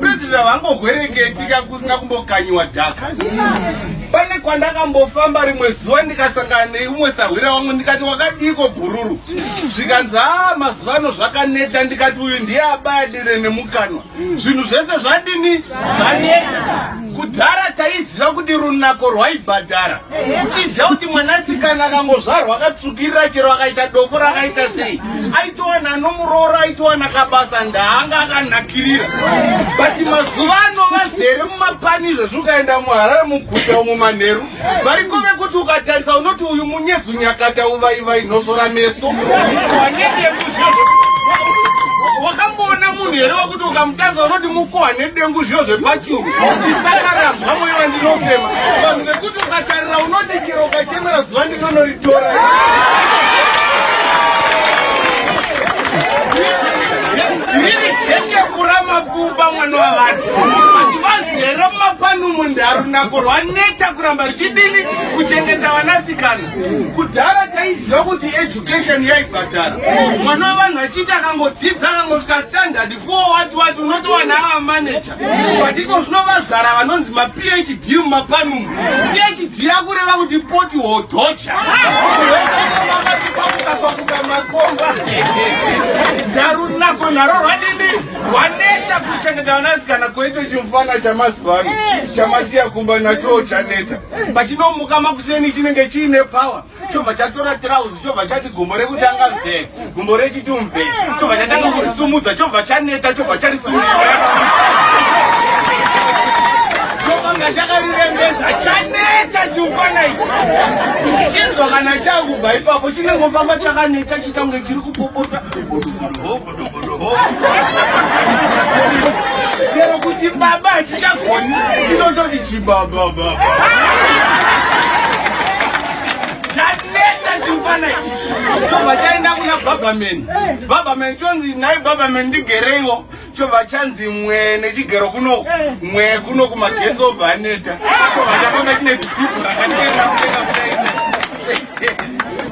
President havangogwereketi kakusina kumbokanyiwa dhaka. Pane kwandakambofamba rimwe zuva ndikasangana neumwe sahwira wangu ndikati wakadiiko bhururu zvikanzi haa mazuva ano zvakaneta ndikati uyu ndiye abaya dere nemukanwa zvinhu zvese zvadini zvaneta kudhara taiziva kuti runako rwaibhadhara uchiziva kuti mwanasikana akangozvarwa akatsvukirira chero akaita dofo rakaita sei aitowana anomuroora aitowana kabasa ndaanga akanakirira but mazuva ano vazere mumapani izvezvi ukaenda muharare muguta umu manheru variko vekuti ukatarisa unoti uyu munyezu nyakata uvaivai nhosvora meso wanenge kuzvio wakamboona munhu here wakuti ukamutarisa unoti mukoha nedengu zvio zvepachuru chisakarambwa moyo vandinofema vanhu vekuti ukatarira unoti chero ukachemera zuva ndinonoritora riri cheke kurama kuba mwana wavanhu Rero mapanumo ndarunako rwaneta kuramba ruchidini kuchengeta vanasikana. Kudhara taiziva kuti education yaibhadhara. Mwana wevanhu achiita akangodzidza akangosvika standard four wati wati unotowana ava manager. But iko zvino vazara vanonzi ma PhD mumapanumo. PhD yakureva kuti poti hodhocha. Ndaru nako naro rwadini. waneta kuchengeta vanasikana koito chimfana chamazuva ano chamasiya kumba nachowo chaneta pachinomuka makuseni chinenge chiine power chobva chatora trouse chobva chati gumbo rekutanga mve gumbo rechiti mve chobva chatanga kurisumudza chobva chaneta chobva charisumudza chobanga chakarirembedza chaneta chimfana ichi chinzwa kana chakubva ipapo chinenge ofamba chakaneta chitange chiri kupopota chero kuti baba hatichagoni tinototi chibabababa chobva chaenda kuna babaman babaman chonzi nhai babaman ndigereiwo chobva chanzi mwe nechigero kuno mwe kuno kumagetsi obva aneta chobva chafamba chine zipipu rakateera kudenga kudaisa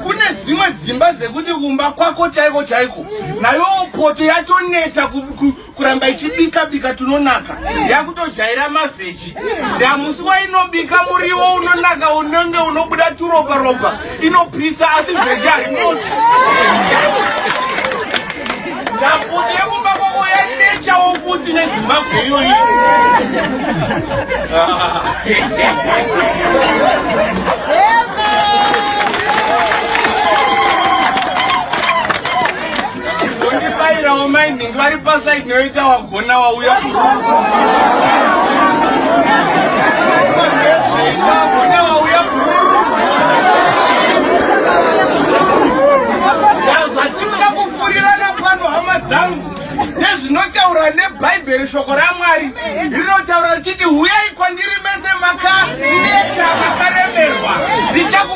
kune dzimwe dzimba dzekuti kumba kwako chaiko chaiko nayo poto yatoneta kuramba ichibika bika tunonaka yakutojaira mavheji ndamusi wainobika muriwo unonaka unenge unobuda turopa ropa inopisa asi vheji harinoti Nyakuti yekumba kwako yanetshawo futi nezimbabwe iyoyi ondibairawo mai nhingi vari pasaidi noitawa Kona wauya kurungu. Kona wauya kurungu. Zvazvatinoda kufurirana pano hama dzangu nezvinotaura nebhaibheri shoko ramwari rinotaura richiti huyai kwandiri mese makaneta makaremerwa ndichaku